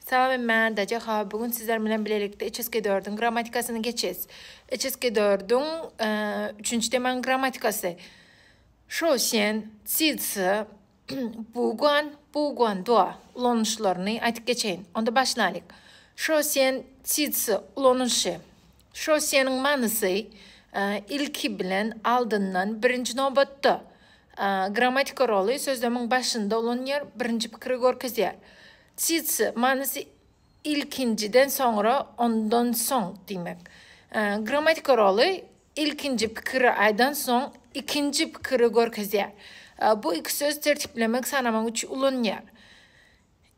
Sawem Mändaja ha bu gün sizler bilen bilelikde içeski dördüň grammatikasyny geçes. Içeski dördüň üçünji temaň grammatikasy. Şo sen, siz, sy, bu gun, bu gun, do, ulanyşlaryny aýdyp geçeýin. Onda başlaýyk. Şo sen, siz, sy, ulanyşy. Şo seniň manysy, ilki bilen, aldyndan, birinji nobatda. Grammatika roly sözlemiň başynda ulanýar, birinji pikiri görkezýär. Tsitsi, manysy ilkinjiden soňra, ondan soň diýmek. Grammatik roly ilkinji pikiri aýdan soň ikinji pikiri görkezýär. Bu iki söz tertiplemek, sanamak üçin ulanylýar.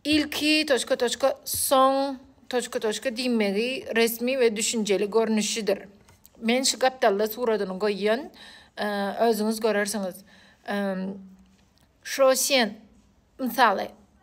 Ilki, toçka, toçka, soň, toçka, toçka, diýmegi resmi we düşünjeli görnüşidir. Men şu gapdalda suratyny goýýan, özüňiz görersiňiz. Şo sen, mysaly,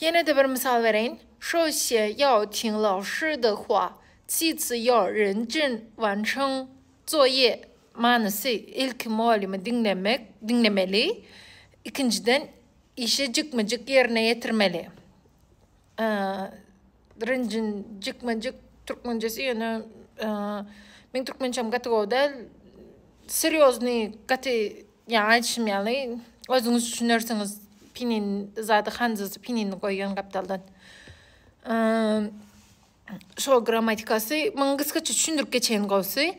Ýene-de bir mysal bereýin, Shou xie yao ting lao shi de hua, ci zi yao ren jin wan cheng zuo ye. Manysy, Ilki mugallymy diňlemek, diňlemeli, ikinjiden, işi jikme-jik ýerine ýetirmeli. Rynjyn jikme jik türkmençesi ýöne meň türkmençem gaty gowy däl. Serýoznyý gaty ýa aýdyşym ýaly özüňiz düşünersiňiz pinin zady hanjasy pinini goýýan gapdaldan. Şo grammatikasy muňa gysgaça düşündirip geçeýin gowusy.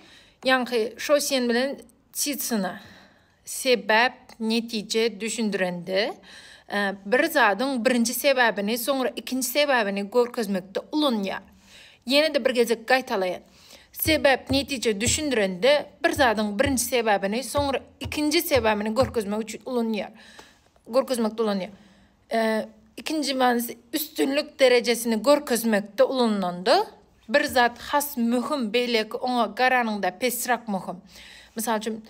Ýaňky şo sen bilen Titsina. Sebäp, netije düşündirende, bir zadyň birinji sebäbini, soňra ikinji sebäbini görkezmekde ulanýar. Ýene-de bir gezek gaýtalaýyn. Sebäp, netije düşündirende, bir zadyň birinji sebäbini, soňra ikinji sebäbini görkezmek üçin ulanýar, görkezmekde ulanýar. Ikinji manysy, üstünlik derejesini görkezmekde ulanylanda, bir zat has möhüm, beýleki oňa garanyňda pesrak möhüm. Mysal üçin,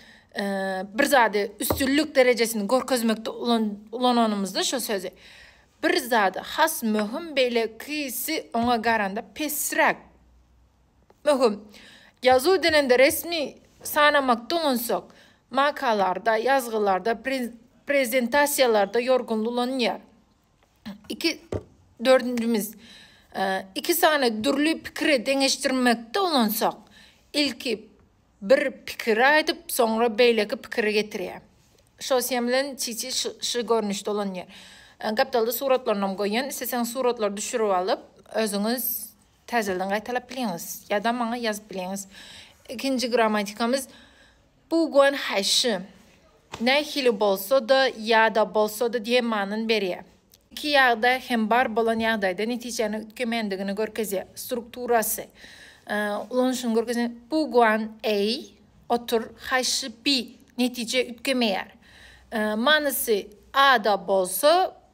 bir zady üstünlik derejesini görkezmekde ulananymyzda şu sözi, bir zady has möhüm, beýlekisi oňa garanda pesrak Möhüm. Ýazuw denende resmi sanamak doňansak, makalarda, ýazgylarda, prezentasiýalarda ýorgunly ulanylýar. Iki, dördünjimiz. Iki sany dürli pikiri deňeşdirmekde ulansak, ilki bir pikiri aýdyp, soňra beýleki pikiri getirýär. Şo sýem bilen çiçi şu görnüşde ulanylýar. Gapdalda suratlarynam goýan, isleseňiz suratlary düşürip alyp, özüňiz Täzeden gaýtalap bileňiz ýa-da maňa ýazyp bileňiz. Ikinji grammatikamyz bu guan haýşy. Nähili bolsa-da ýa-da bolsa-da diýen manyny berýär. Iki ýagda hem bar bolan ýagdaýda netijäni üýtgemändigini görkezýär. Strukturasy, ulanyşyny görkezýän bu guan eý, otur, haýşy bi, netije üýtgemeýär. Manysy a-da bolsa,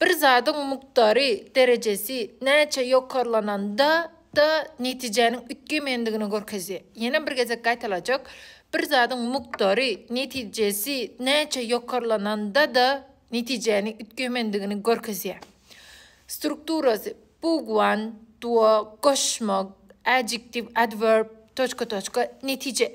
Bir zadyň mukdary, derejesi, näçe ýokarlanan da, da netijäniň üýtgemeýändigini görkezýär. Ýene bir gezek gaýtalajak, Bir zadyň mukdary, netijesi, näçe ýokarlanan da, da netijäni üýtgeýmendigini görkezýär. Strukturasy, Bugwan, duo, goşmak, adjektiw, adwerb, toçka, toçka, netije.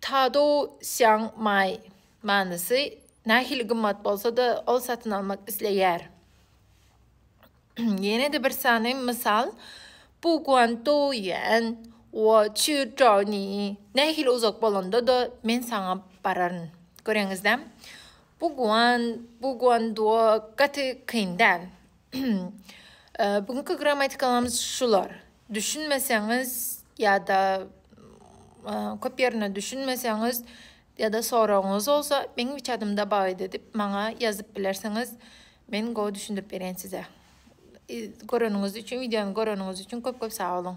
Tadou Xiang Mai, manysy, Nähili gymmat bolsa-da, ol satyn almak isleýär. Ýene-de bir sany mysal, Bu guan dou ýuan, wo qiu zhao ni, Nähili uzak bolanda-da, men saňa bararyn. Göreňiz-dä, bu guan, bu guan duo gaty kyn däl. Bu günki grammatikalymyz şular. Düşünmeseňiz ýa-da köp ýerine düşünmeseňiz ýa-da soragyňyz bolsa meň WeChat'ymda bagydy diýip maňa ýazyp bilersiňiz. Men gowy düşündirip berýän size. Göreniňiz üçin, wideony göreniňiz üçin köp-köp sag boluň.